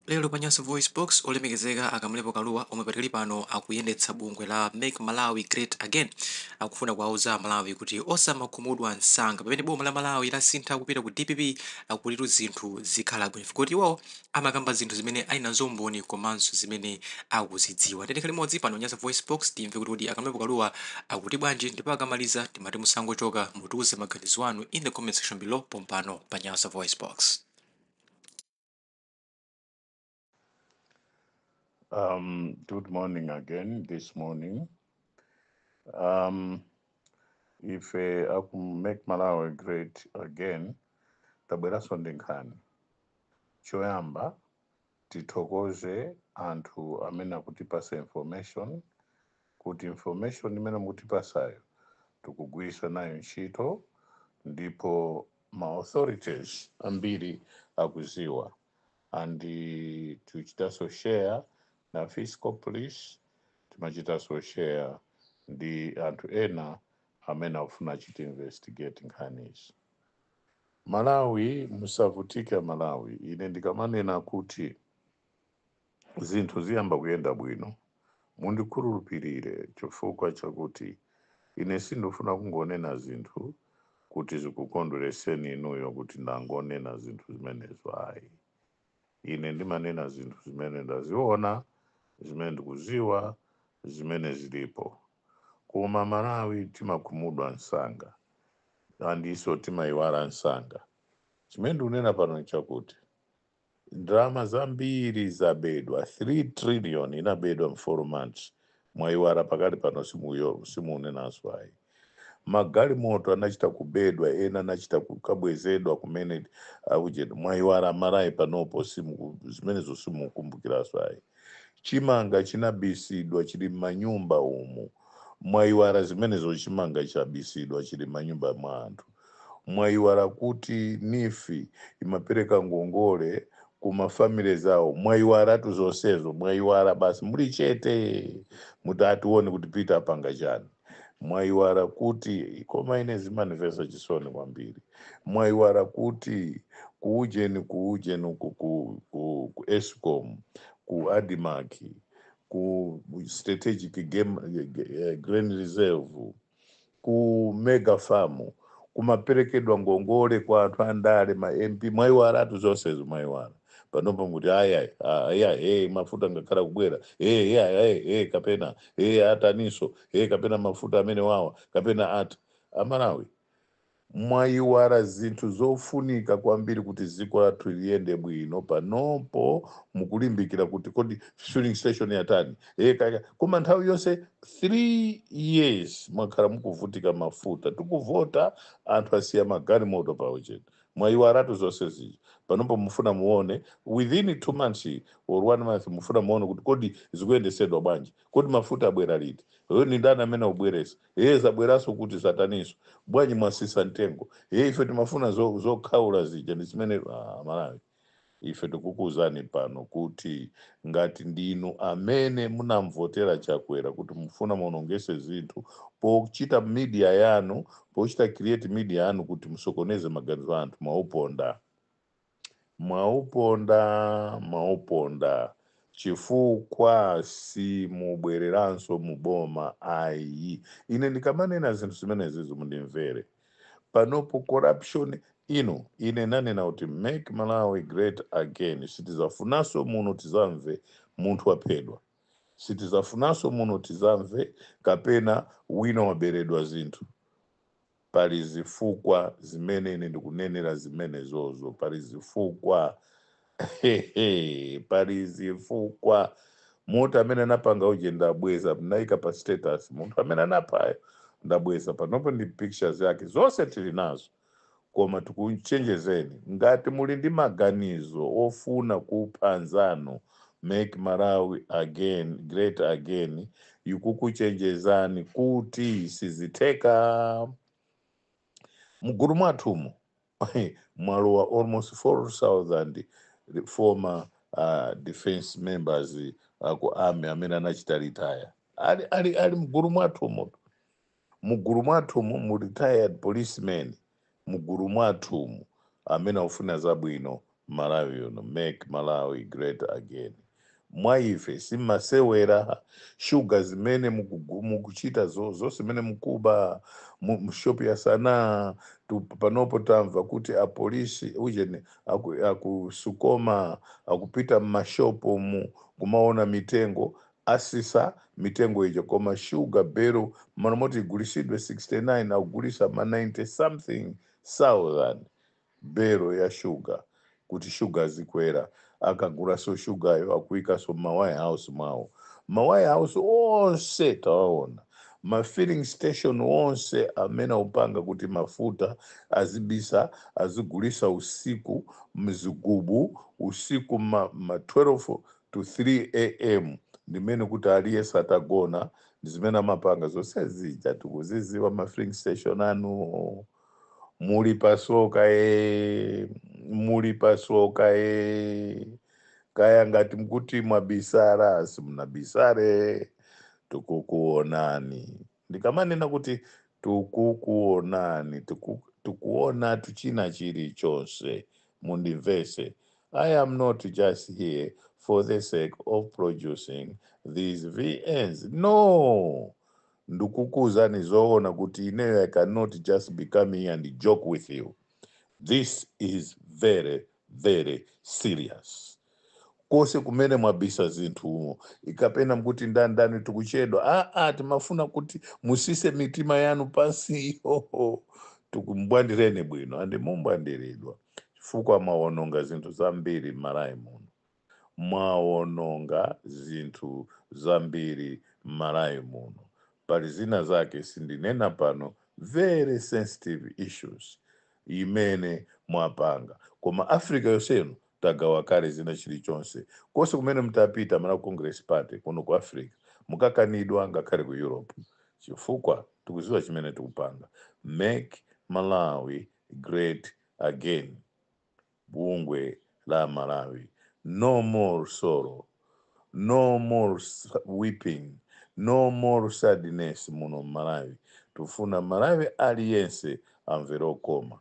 Lero pa Nyasa VoiceBox, olemekezeka a Kamlepo Kalua omwe padkali pano akuyendetsa bungwe la Make Malawi Great Again akufuna kuwauza a Malawi kuti osamakhumudwa msanga pamene boma la Malawi lasintha kupita ku dpp akutitu zinthu zikhala bwino chifukwa choti iwowo amakamba zinthu zimene ali nazo umboni komanso zimene akuzidziwa. Tiyeni tikhale limodzi pano pa Nyasa VoiceBox timve kuti kodi a Kamlepo Kalua akuti bwanji ndipo akamaliza timati musangochoka mutiuze maganizo anu in the comment section below pompano pa Nyasa VoiceBox. Um, good morning again this morning. Um, ife a ku Make Malawi great again, tabweranso ndi nkhani. Choyamba tithokoze anthu amene akutipasa information kuti information imene mukutipasayo tikugwiritsa nayo ntchito ndipo ma authorities ambiri akuziwa and eh, tichitaso share na fiscal police timachitaso share ndi anthu ena amene akufuna achite investigate nkhanizi Malawi musavutike a Malawi ine ndikamanena kuti zinthu ziyamba kuyenda bwino. Mundikhulupirire chifukwa chakuti ine sindifuna kungonena zinthu kuti zikukondweretseni inuyo kuti ndangonena zinthu zimenezo ayi. Ine ndimanena zinthu zimene ndaziona, zimene ndikuziwa, zimene zilipo. Koma Malawi timakhumudwa msanga andiso timayiwala msanga. Chimene ndikunena pano nchakuti. Ndalama zambiri zabedwa, 3 trillion inabedwa mu 4 months. Mwaiwara pakali pano simuyo simuunenanso ayi. Magalimoto anachita kubedwa ena anachita kukabwezedwa kumene akujeni mwaiwara a Malawi panopo simuku zimenezo simukumbukiraso ayi. Chimanga chinabisidwa chili mmanyumba umu mwaiwara zimenezo chimanga chabisidwa chili mmanyumba mwa anthu. Mwaiwala kuti neef imapereka ngongole ku ma family zawo? Mwaiwalatu zonsezo, mwaiwala basi muli chete muti a tione kuti Peter apanga chani. Mwaiwala kuti, koma ine zimandimvetsa chisoni kwambiri. Mwaiwala kuti ku ujeni ku ujeni uku ku, ku, ku escom, ku admarc, ku strategic game, eh, grain reserve, ku mega farm kumaperekedwa ngongole kwa anthu andale ma mp mwayiwaratu zonsezo mwayiwara panopo mukuti ayayi ayayi hey, mafuta angakhale kubwera hey, hey, hey, hey, kapena hey, ataninso hey, kapena mafuta amene wawa kapena ati amalawi Mwaiwara zinthu zofunika kwambiri kuti dziko lathu liyende bwino panopo mukulimbikira kuti kodi filling station yatani ee kaya kaya koma nthawi yonse 3 years mwakhala mukuvutika mafuta tikuvota anthu asiya magalimoto pa ujeni mwaiwaratu zonse zija panopo mufuna muone within 2 months or 1 month mufuna muone kuti kodi zikuyendesedwa bwanji kodi mafuta abwera liti ee ndi ndani amene akubweresa ee zabweraso kuti zataniso bwanji mwasisa mtengo ee ife timafuna zo- zokhaula zija ndi zimene ah, malawi ife tikukuuzani pano kuti ngati ndinu amene munamvotera Chakwera kuti mufuna muonongese zinthu pochita media yanu pochita create media yanu kuti musokoneze maganizo a anthu mwauponda Mwauponda, mwauponda chifukwa simubwereranso mu boma ai. Ine ndikamanena zinthu zimenezizo mundimvere. Panopo corruption inu ine nanena kuti Make Malawi Great Again sitizafunanso muno tizamve munthu waphedwa. Sitizafunanso muno tizamve kapena wina waberedwa zinthu. Pali zifukwa zimene ine ndikunenera zimenezozo. Pali zifukwa. Pali zifukwa. Munthu amene anapanga uje ndabweza, ndinayika pa status. Munthu amene anaphayo ndabweza. Panopo ndi pictures yake. Zonse tili nazo. Koma tikuchenjezeni, ngati muli ndi maganizo ofuna kupha anzanu, Make Malawi again great again ikukuchenjezani kuti sizitheka. Mgulu mwathumu mwalowa almost 4000 re- former uh, defense members aku army amene anachita retire ali, ali, ali mgulu mwathumu Mugulu mwathumu mu retired police men mugulu mwathumu amene akufuna zabwino Malawi uno make Malawi great again mwaife simasewera sugar zimene mukugu mukuchita zo zonse zimene mukuba mu mu shop ya Sana tu panopo tamva kuti apolisi ujeni aku, aku Sukoma akupita mmashopomu kumaona mitengo Asisa mitengo ija koma sugar belo mmalo moti igulisidwe 69 akugulisa ma 90 something thousand belo ya sugar kuti sugar azikwera akagulaso sugar yo akuikaso mma warehouse mwawo ma warehouse onse tawaona ma filling station onse amene akupanga kuti mafuta azibisa azigulisa usiku mzigubu usiku mma 12 to 3 am ndimene kuti aliyese atagona ndi zimene amapanga zosezija tikuziziwa ma filling station anu muli pasoka e muli pasoka e kaya ngati mkuti mwabisara simunabisare tikukuonani Ndikamanena kuti tukukuonani, tiku, tikuonatu china chilichonse, mundimvese, I am not just here for the sake of producing these VNs, no! Ndukukuuzani zoona kuti ineyo I cannot just be coming here and joke with you, this is very, very serious. konse kumene mwabisa zinthu umo ikapena mkuti ndani ndani tikuchedwa aa timafuna kuti musise mitima yanu pansi ihoho tikumbwandireni bwino and mumbwandiridwa chifukwa mwawononga zinthu zambiri m'malawi muno mwawononga zinthu zambiri m'malawi muno pali zina zake sindinena pano very sensitive issues imene mwapanga koma africa yonsenu tagawa kale zina chilichonse konse kumene mtapita Malawi congress party kuno ku africa mukakanidwa ngakhale ku europe chifukwa tikuziwa chimene tikupanga make malawi great again bungwe la amalawi no more sorrow no more weeping no more sadness muno mmalawi tufuna malawi aliyense amvere kukoma